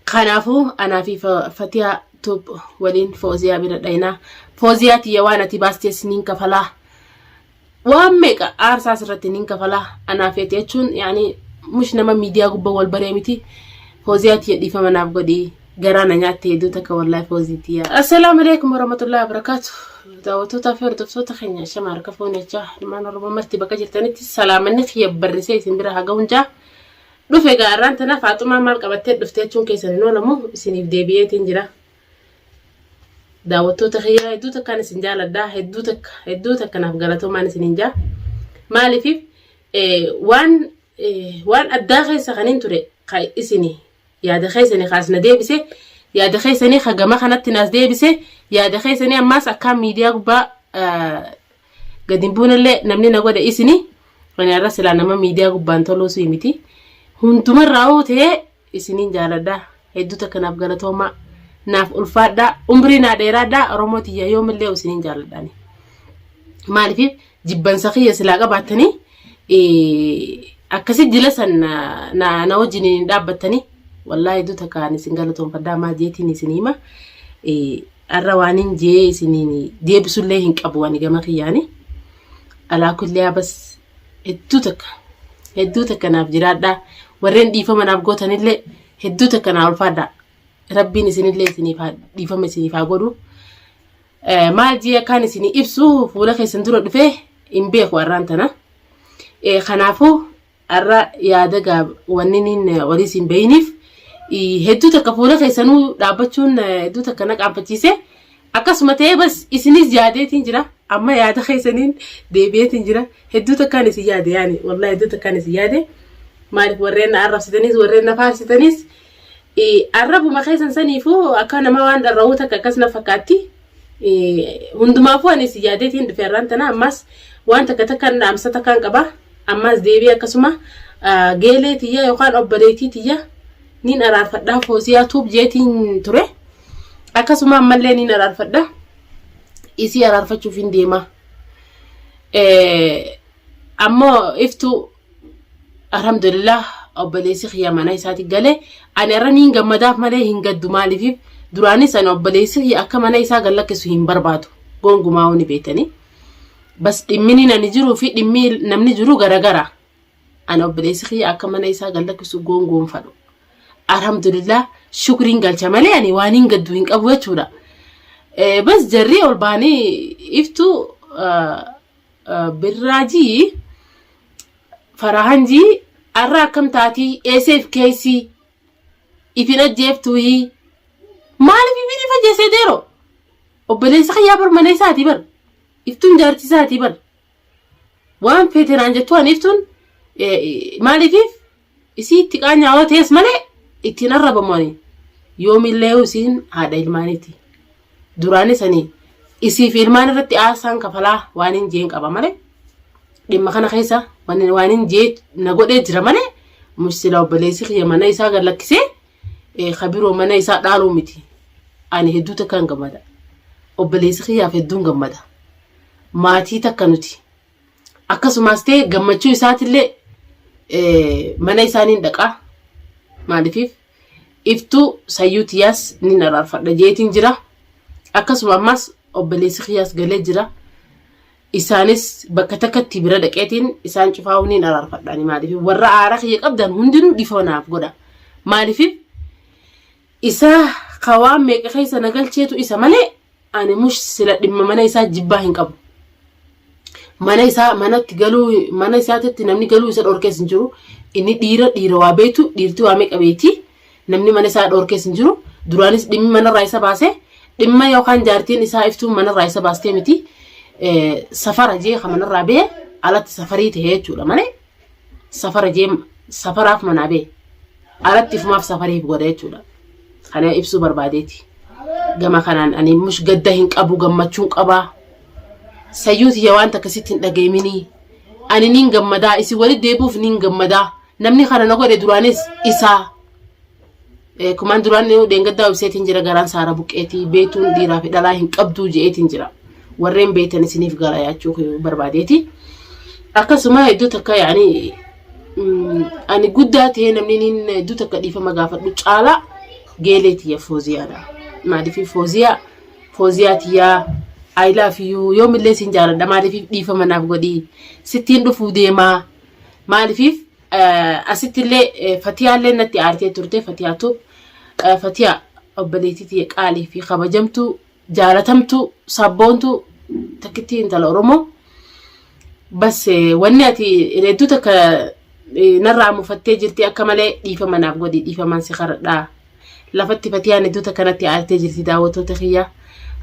Kanaafuu anaa fi Fatiyaa Tuub waliin Fooziyaa bira dhaynaa. Fooziyaa tiyya waan ati baastees niin kafalaa. Waan meeqa aarsaas irratti niin kafalaa. Anaa feeti jechuun yaani mush nama miidiyaa gubbaa wal baree miti. Fooziyaa tiyya dhiifama naaf godhi. Garaa na nyaatte hedduu takka wallahi Foozii tiyya. Assalaamu alaikum warahmatullahi wabarakatuh. Daawwattootaa fi hordoftoota keenya shama harka fuunee jaa ilmaan Oromoo marti bakka jirtanitti salaamanni kiyya barrisee isin bira haa ga'uun jaa. Dhufe egaa arraan tana Faaxumaan maal qabattee dhufte jechuun keessan hin oolamu isiniif deebi'eetiin jira. Daawwattoota kiyyaa hedduu takkaan isin jaaladha hedduu takka hedduu takka naaf galatoomaan isiniin jaa. Maaliif waan waan addaa keessa kan hin ture ka isini yaada keessanii kaas na deebise yaada keessanii ka gama kanatti naas deebise yaada keessanii ammaas akkaan miidiyaa gubbaa Gad hin buunellee namni na godhe isini ani har'a silaa nama miidiyaa gubbaan toluu sii miti. Hundumarraa hoo ta'ee isiniin jaaladha. Hedduu takka naaf galatoomaa. Naaf ulfaadha. Umrii naa dheeraadha. Oromoo tiyya yoomillee isiniin jaaladha ani. Maaliif jibbansa kiyya silaa qabaattanii akkasi jila san na wajjin hin dhaabbattanii. Wallaahi hedduu takka ani isin galatoomfadha. Maa jeetiin isin hima. Arra waanin jee isiniin deebisullee hin qabu ani gama kiyyaani. Alaa kulliyaa bas hedduu takka hedduu takka naaf jiraadhaa warreen dhiifama naaf gootanillee hedduu takka naa ulfaadhaa. Rabbiin isinillee isiniif haa dhiifama isiniif haa godhu. Eh, Maal jee akkaan isinii ibsu fuula keessan dura dhufee hin beeku arraan tana. Eh, Kanaafuu Arra yaada gaab wanniniin warii siin beeyiniif hedduu takka fuula keessanuu dhaabbachuun hedduu takka na qaabbachiise akkasuma ta'ee bas isinis yaadeetiin jira amma yaada keessaniin deebi'eetiin jira hedduu takkaan isin yaade yaani wallaahi hedduu takkaan isin yaade maaliif warreen na arrabsitanis warreen na faarsitanis arrabuma keessan saniifuu akka nama waan dharra'uu takka akkas na fakkaatti Hundumaafuu anis yaadeetiin dhufe har'aan tana ammaas waan takka takkaan dhaamsa takkaan qaba. Ammaas deebi'ee akkasuma geelee tiyya yookaan obboleettii tiyya niin araarfadhaa foosiyaa tuub jeetiin ture. Akkasuma ammallee niin araarfadha. Isii araarfachuuf hin deema. Ammoo iftuu alhamdulillah obboleessi kiyya mana isaati gale ani irra niin gammadaaf malee hin gaddu maaliif duraanis ani obboleessi kiyya akka mana isaa gallakkisu hin barbaadu gongumaa wani beetanii bas dhimmini nani jiruu fi dhimmi namni jiru garagara ani obboleessi kiyya akka mana isaa gallakkisu gongoonfadhu alhamdulillah shukriin galcha malee ani waan hin gaddu hin qabu jechuudha bas jarri ol baanii iftu Birraa ji farahan ji arra akkam taatii eeseef keeysii ifin ajjeeftuuhii maalif ifin if ajjeesee deero obboleessa kiyyaa bar mana isaatii bar iftuun jaartii isaatii bar waan feetenaan jettu an iftuun maalifiif Isii itti qaanyaa yoo ta'es malee ittiin arrabamu ani yoomillee isiin haadha ilmaaniiti. Duraanis ani isii fi ilmaan irratti aarsaan kafalaa waan hin jeen qaba malee dhimma kana keessa waan waan hin jee na godhee jira malee musila obboleessi kiyya mana isaa gad lakkisee eh, ka biroo mana isaa dhaaluu miti. Ani hedduu takkaan gammada. Obboleessi kiyyaaf hedduun gammada. Maatii takka nuti. Akkasumas ta'e gammachuu isaatillee eh, mana isaaniin dhaqa. Maaliif iftuu sayyuu tiyyaas nin araarfadha jeetiin jira. Akkasuma ammas obboleessi kiyyaas galee jira. Isaanis bakka takkatti bira dhaqeetiin isaan cufaa'uu nin araarfadhaani maaliif warra aara kiyya qabdan hundinuu dhiifama naaf godha. Maaliif Isa ka waan meeqa keessa na galcheetu isa malee ani mush sila dhimma mana isaa jibbaa hin qabu. Mana isaa manatti galuu mana isaatitti namni galuu isa dhorkees hin jiru. Inni dhiira dhiira waa beektu dhiirti waa meeqa beekti. Namni mana isaa dhorkees hin jiru. Duraanis dhimmi manarraa isa baase dhimma yookaan jaartiin isaa iftuu manarraa isa baastee miti. Eh, Safara jee ka manarraa bee alatti safarii ta'e jechuudha malee. safara jee safaraaf manaa bee alatti fumaaf safariif godha jechuudha. Kana ibsuu barbaadeeti. Gama kanaan ani mush gadda hin qabu gammachuun qabaa. Sayyuu tiyya waan takka sitti hin dhageeminii. Ani niin gammadaa isin walitti deebi'uuf niin gammadaa. Namni kana na godhe duraanis isaa. Eh, Kumaan duraan dheengaddaa ibseetiin jira garaan saara buqqeetii beektuun dhiiraa fi dhalaa hin qabduu je'eetiin jira. Warreen beektan isiniif gara yaachuu koo barbaadeeti. Akkasuma hedduu takka yaani mm, ani guddaa ta'ee namni niin hedduu takka dhiifama gaafadhu caalaa geelee tiyya fooziyaadha. Maaliif fooziyaa fooziyaa tiyyaa I love you yoomillee siin jaaladha maaliif dhiifama naaf godhii sittiin dhufuu deemaa maaliif Asittillee Fatiyaallee natti aartee turte Fatiyaa Tuub. Fatiyaa obboleettii tiyya qaalii fi kabajamtuu jaalatamtuu sabboontuu takkittii intala Oromoo. Bas wanni ati reedduu takka narraa mufattee jirti akka malee dhiifama naaf godhi dhiifamaan si karadhaa. Lafatti Fatiyaan hedduu takka natti aartee jirti daawwattoota kiyyaa.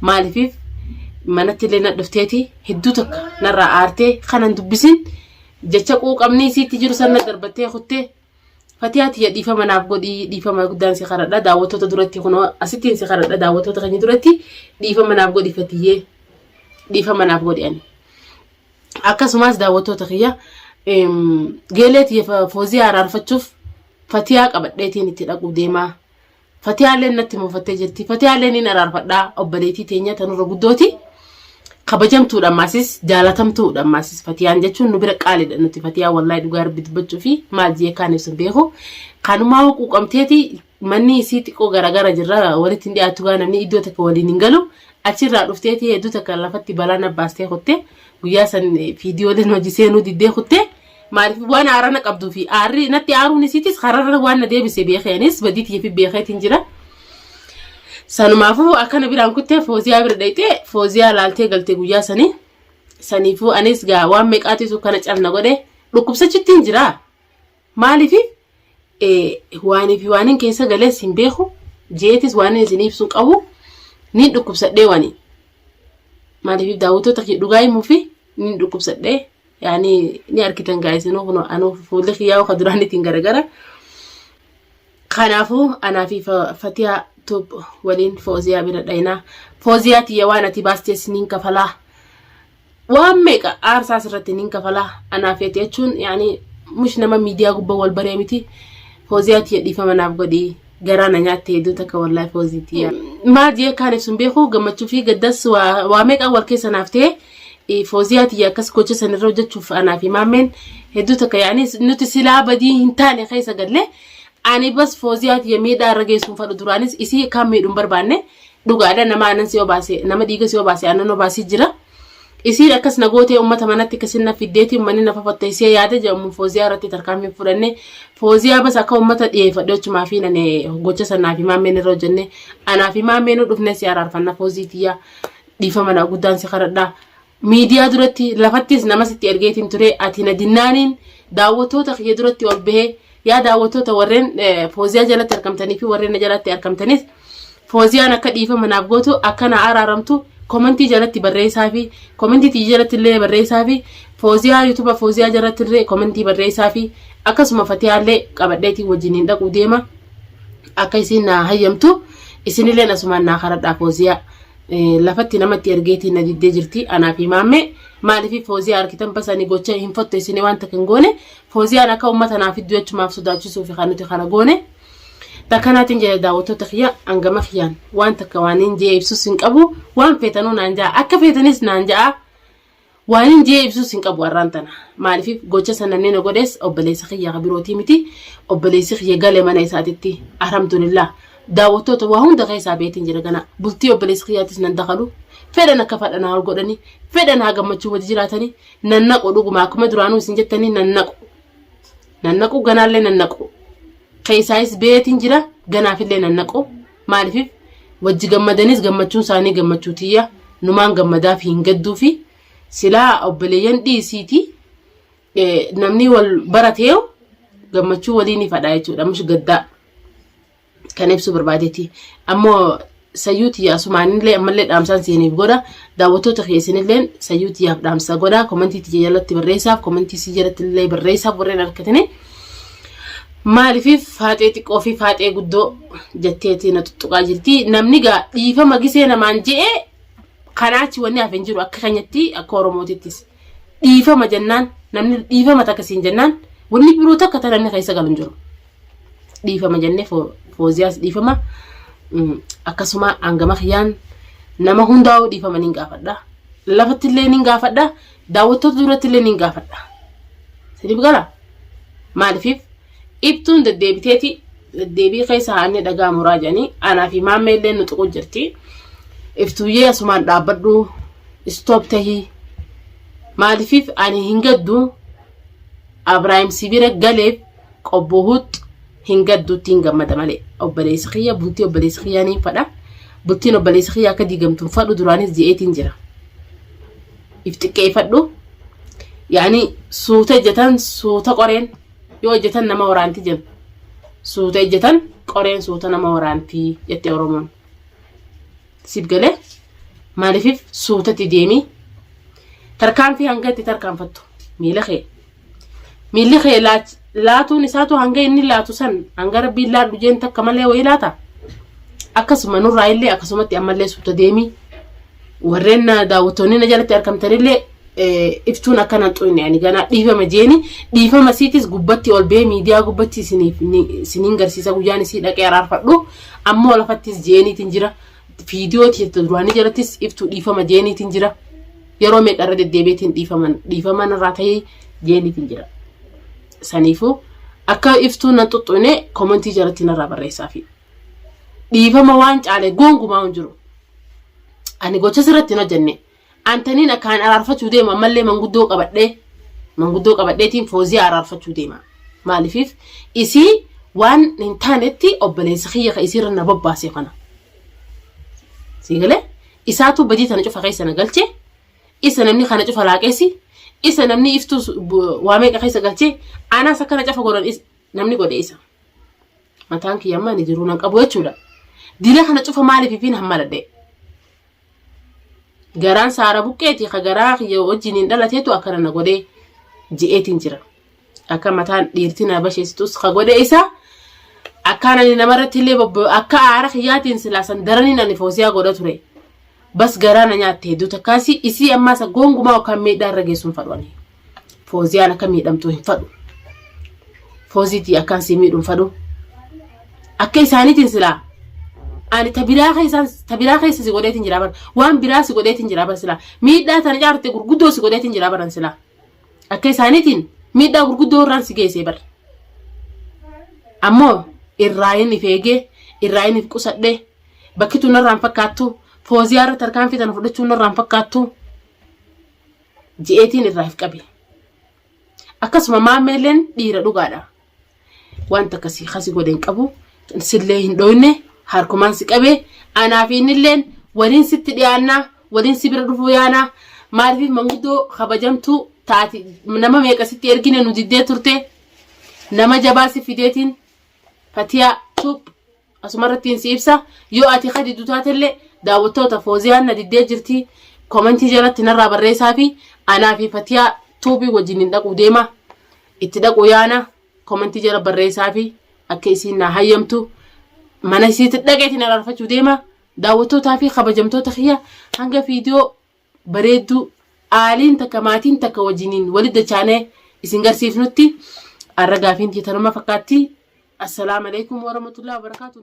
Maalifiif manatti illee na dhufteeti hedduu takka narraa aartee kanan dubbisin Jecha quuqamni isiitti jiru san na darbattee kuttee Fatiyaa tiyya dhiifama naaf godhii dhiifama guddaan si karadha daawwattoota duratti kunoo asittiin si karadha daawwattoota keenya duratti dhiifama naaf godhi Fatiyyee dhiifama naaf godhi ani. Akkasumas daawwattoota kiyya em, geelee tiyya fa- fooziyaa araarfachuuf Fatiyaa qabadheetiin itti dhaquu deemaa Fatiyaalleen natti mufattee jirti. Fatiyaallee niin araarfadhaa obboleettii teenya tanurra guddooti. Kabajamtuudha ammaasis jaalatamtuudha ammaasis fatiyaan jechuun nu bira qaaliidha nuti fatiyaa wallahi dhugaa rabbi dubbachuu fi maal jee kaan ibsu hin beeku. Kanumaa hoo quuqamteeti manni isii xiqqoo garaagara jirra walitti hin dhiyaatu gaa namni iddoo takka waliin hin galu. Achirraa dhufteeti hedduu takka lafatti balaa na baastee kutte guyyaa san fiidiyooleen hojii seenuu diddee kutte. Maaliif waan aaraa na qabduu fi aarri natti aaruun isiitis kararra waan na deebise beekee anis badii tiyya fi beekeetiin jira. Sanumaafuu akkana biraan kuttee fooziyaa bira dhayxee fooziyaa laaltee galtee guyyaa sanii. Saniifuu anis gaa waan meeqaatiisu kana calna godhe dhukkubsachittiin jira. Maaliif waanii fi waaniin keessa galees hin beeku jeetis waaniin isin ibsuun qabu niin dhukkubsadhee wanii. Maaliif daawwattoota dhugaa himuu fi niin dhukkubsadhee. yaani ni argitan gaa isinuu kun anuu fuulli kiyyaa'u ka duraanitiin garagara kanaafuu anaa fi Fa- fatiyaa tub waliin fooziyaa bira dhaynaa fooziyaa tiyya waan ati baastee siniin kafalaa waan meeqa aarsaa asirratti niin kafalaa anaa feeti jechuun yaani mush nama miidiyaa gubbaa wal baree miti fooziyaa tiyya dhiifama naaf godhii garaa na nyaatte hedduu takka wallahi foozii tiyya. Maal jee akkaan ibsuun beeku gammachuu fi gaddas waa waa meeqaan wal keessa naaf ta'e eh, fooziyaa tiyya akkas gocha san irra hojjechuuf anaa fi maammeen hedduu takka yaa'anii nuti silaa badii hin taane keessa galle ani bas fooziyaa tiyya miidhaa irra geessuun fadhu duraanis isii akkaan miidhuun barbaanne dhugaadha nama aanan si obaase nama dhiiga si obaase aannan obaasii jira. Isiin akkas na gootee ummata manatti akkasin na fiddeetii ummanni na fafattaisee yaada jedhamu Fooziyaa irratti tarkaanfii fudhanne Fooziyaa bas akka ummata dhiyeeffadhe ochumaa fi nane gocha sanaa fi maammeen irra hojjenne anaa fi maammeen dhufne si araarfanna Foozii tiyyaa dhiifama na guddaan si kadhadha miidiyaa duratti lafattis namas itti ergeetiin ture ati na dinnaaniin daawwattoota kiyya duratti ol bahee Yaa daawwattoota warreen Fooziyaa jalatti argamtanii fi warreen na jalatti argamtanis Fooziyaan akka dhiifama naaf gootu akka na araaramtu komentii jalatti barreessaa fi komentii tiyya jalatti illee barreessaa fi Fooziyaa yuutuba Fooziyaa jalatti illee komentii barreessaa fi akkasuma Fatiyaa illee qabadheetii wajjiniin dhaquu deema akka isiin na hayyamtu isinillee asumaan naa karadhaa Fooziyaa lafatti namatti ergeetii na diddee jirti anaa fi maammee maaliif Fooziyaa argitan basanii gocha hin fotto isinii waan takka hin goone Fooziyaan akka uummata naa fidduu jechumaaf sodaachisuuf kan nuti kana goone. Takka naatiin jedha daawwattoota kiyya hangama kiyyaan waan takka waaniin jee ibsus hin qabu waan feetanuu naan ja'a akka feetanis naan ja'a waaniin jee ibsus hin qabu har'aan tana maaliif gocha san namni na godhees obboleessa kiyya ka birootii miti obboleessi kiyya gale mana isaatitti alhamdulillah daawwattoota waa hunda keessaa beetiin jira gana bultii obboleessi kiyyaattis nan dakalu fedhan akka fadhanaa ol godhanii fedhan haa gammachuu wajji jiraatanii Nannaqu dhuguma akkuma duraanuu isin jettanii nannaqu. Nannaqu ganaallee nannaqu. Keessaayis beetiin jira ganaafillee nannaqu. Maaliif wajji gammadanis gammachuun isaanii gammachuu tiyya numaan gammadaaf hin gadduu fi silaa obboleeyyan dhiisiiti namni wal barateeyo gammachuu waliin ifadha jechuudha mush gaddaa. kan ibsuu barbaadeeti. Ammoo sayyuu tiyya asumaanillee ammallee dhaamsaan siiniif godha. Daawwattoota kee isinilleen sayyuu tiyyaaf dhaamsa godha. Komentii tiyya jalatti barreessaaf, komentii sii jalatti illee barreessaaf warreen argatanii. Maaliif faaxee xiqqoo fi faaxee guddoo jetteeti na tuttuqaa jirti. Namni gaa dhiifama gisee namaan je'ee kanaachi wanni hafe hin jiru akka keenyatti akka Oromootittis. Dhiifama jennaan namni dhiifama takka siin jennaan wanni biroo takka ta'e namni keessa galu hin jiru. dhiifama jennee fooziyaas dhiifama akkasuma hangama kiyyaan nama hundaa'uu dhiifama niin gaafadha lafatti illee niin gaafadha daawwattoota duratti illee niin gaafadha siniif gala maaliif ibtuun deddeebiteeti deddeebii keessa haannee dhagaa muraa jedhanii anaa fi maammee illee nu tuquu jirti iftuuyyee asumaan dhaabbadhu istoop tahii maaliif ani hin gaddu abraahim sibira galeef Qobboo huxx hin gaddu ittiin gammada malee. Obboleessi kiyya bultii obboleessi kiyyaa niin fadha. Bultiin obboleessi kiyyaa akka diigamtu hin fadhu duraanis je'eetiin jira. If xiqqeeffadhu. Yaani suuta ejjetan suuta qoreen yoo ejjetan nama waraanti jennu. Suuta ejjetan qoreen suuta nama waraanti jette Oromoon. Siif galee maaliifif suutatti deemii tarkaanfii hanga itti tarkaanfattu miila kee. miilli kee laach- laatuun isaatu hanga inni laatu san hanga rabbiin laadhu jeen takka malee wayii laata akkasuma nurraa illee akkasumatti ammallee suuta deemii warreen na daawwattoonni na jalatti argamtanillee eh, iftuun akka nan xuyne ani ganaa dhiifama jeeni dhiifama siitis gubbatti ol bee miidiyaa gubbatti isiniif ni- isiniin garsiisa guyyaan isii dhaqee araarfadhu ammoo lafattis jeeniitiin jira Viidiyoo tiyya duraanii jalattis iftuu dhiifama jeeniitiin jira. Yeroo meeqa irra deddeebiitiin dhiifaman dhiifaman irraa ta'ee jeeniitiin jira. Saniifuu akka iftuu nan xuxxune komentii jalatti narraa barreessaafi. Dhiifama waan caale goongumaa hin jiru. Ani gocha sirratti hin hojjenne Antaniin akkaan araarfachuu deemu ammallee manguddoo qabadhee manguddoo qabadheetiin fooziyaa araarfachuu deema. Maalifiif isii waan hin taanetti obboleessa kiyya ka isiirra na bobbaase kana. Siigalee isaatu badii tana cufa keessa na galche isa namni kana cufa laaqeessi isa namni iftuu waa meeqa keessa galche anaas akkana cafa godhan namni godhe isa. Mataan kiyya ammaa ni jiruu nan qabu jechuudha. Dila kana cufa maaliif ifiin hammaladhee. Garaan saara buqqeeti ka garaa kiyya wajjiniin dhalateetu akkana na godhe je'eetiin jira. Akka mataan dhiirti na basheessitus ka godhe isa akkaan ani namarratti illee bobbo akka aara kiyyaatiin silaa san daraniin ani foosiyaa godha ture. Bas garaa na nyaatte hedduu takkaasi isii ammaasa goongumaa yookaan miidhaa irra geessuun fadhu ani. Fooziyaan akka miidhamtu hin fadhu. Fooziitii akkaan si miidhu hin fadhu. Akka isaaniitiin silaa ani ta biraa keessaan ta biraa keessa si godheetiin jira bara waan biraa si godheetiin jira bara silaa miidhaa tana caarte gurguddoo si godheetiin jira baran silaa akka isaaniitiin miidhaa gurguddoo irraan si geessee bara ammoo irraa hin if eegee irraa hin if qusadhee bakki tun irraan fakkaattu fooziyaa irratti harkaan fitan fudhachuun irraan fakkaattu je'eetiin irraa if qabe. Akkasuma maammeelleen dhiira dhugaadha. Wanta akkasii kasi godhe hin qabu. Sillee hin dhooyne harkumaan si qabe. Anaa fi innilleen waliin sitti dhiyaannaa waliin si bira dhufuu yaanaa maaliif manguddoo kabajamtuu taati nama meeqa sitti ergine nu diddee turte nama jabaa si fideetiin fatiyaa tuup Asumarrattiin si ibsa yoo ati ka diddu taatellee daawwattoota fooziyaan na diddee jirti komentii jalatti narraa barreessaa fi anaa fi fatiyaa tuubii wajjin hin dhaquu deema itti dhaquu yaana komentii jala barreessaa fi akka isiin naa hayyamtu mana isiitti dhaqeetiin araarfachuu deema daawwattootaa fi kabajamtoota kiyya hanga viidiyoo bareedduu aaliin takka maatiin takka wajjiniin walitti dachaanee isin garsiifnutti har'a gaafiin tiyya tanuma fakkaatti. Assalaam alaikum warahmatullahi wabarakatuh.